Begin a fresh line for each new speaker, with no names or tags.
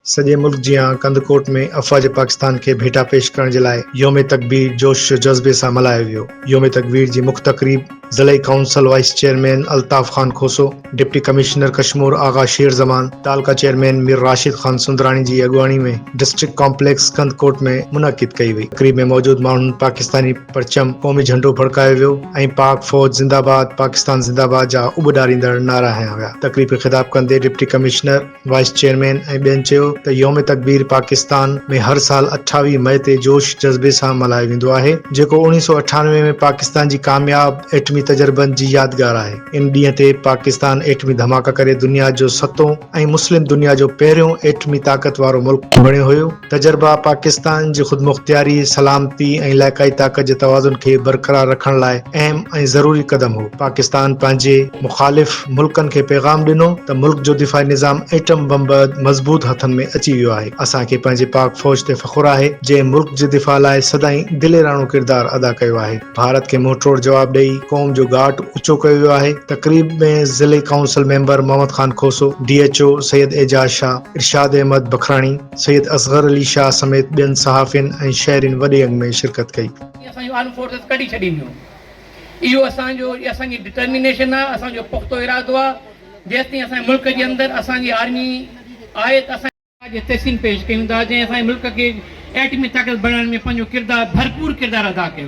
سڄي ملڪ جيان ڪنڌڪوٽ ۾ افواج پاڪستان کي ڀيٽا پيش ڪرڻ جي لاء يوم تڪبير جوش و جذبي سان ملهايو ويو. يوم تڪبير جي مک تقريب ضلعي council vice chairman Altaf Khan Khoso, deputy commissioner Kashmore Agha Sher Zaman, تعلقه چيئرمين مير راشد خان سندراڻي جي اڳواڻي ۾ ڊسٽرڪٽ ڪامپليڪس ڪنڌڪوٽ ۾ منعقد ڪئي وئي. تقريب ۾ موجود ماڻهن پاڪستاني پرچم، قومي جهنڊو ڦڙڪايو ويو ۽ پاڪ فوج زنده باد، پاڪستان زنده باد جا اٻڏاريندڙ نعرا هنيا ويا. تقريب کي خطاب ڪندي ڊپٽي ڪمشنر. وائيس چيئرمين ۽ ٻين چيو ته يوم تڪبير پاڪستان ۾ هر سال اٺاويهه مئي تي جوش جذبي سان ملهايو ويندو آهي جيڪو اڻيهه سؤ اٺانوي ۾ پاڪستان جي ڪامياب ايٽمي تجربن جي يادگار آهي ان ڏينهن تي پاڪستان ايٽمي ڌماڪا ڪري دنيا جو ستون ۽ مسلم دنيا جو پهريون ايٽمي طاقت وارو ملڪ بڻيو هيو. تجربا پاڪستان جي خودمختياري، سلامتي ۽ علائقائي طاقت جي توازن کي برقرار رکڻ لاء اهم ۽ ضروري قدم هو. پاڪستان پنهنجي مخالف ملڪن کي پيغام ڏنو ته ملڪ جو دفاعي نظام ايٽم بم بعد مضبوط هٿن ۾ اچي ويو آهي. اسان کي پنهنجي پاڪ فوج تي فخر آهي، جنهن ملڪ جي دفاع لاء سدائين دليراڻو ڪردار ادا ڪيو آهي. ڀارت کي منهن ٽوڙ جواب ڏئي قوم جو ڳاٽ اوچو ڪيو ويو آهي. تقريب ۾ ضلعي council member Muhammad Khan Khoso, D H O Syed Ejaz Shah, Irshad Ahmed Bakhrani, Syed Asghar Ali Shah سميت ٻين صحافين ۽ شهرين وڏي انگ ۾ شرڪت ڪئي. هي اسان جون آرمڊ فورسز
ڪڍي ڇڏينديون. اهو اسان جو اسان جي ڊٽرمينيشن آهي، اسان جو پختو ارادو آهي، جيستائين اسان جي ملڪ جي اندر اسان جي آرمي آهي ته اسان. جي تحسين پيش ڪيون ٿا، جنهن اسان جي ملڪ کي ايٽمي طاقت بڻائڻ ۾ پنهنجو ڪردار ڀرپور ڪردار ادا ڪيو.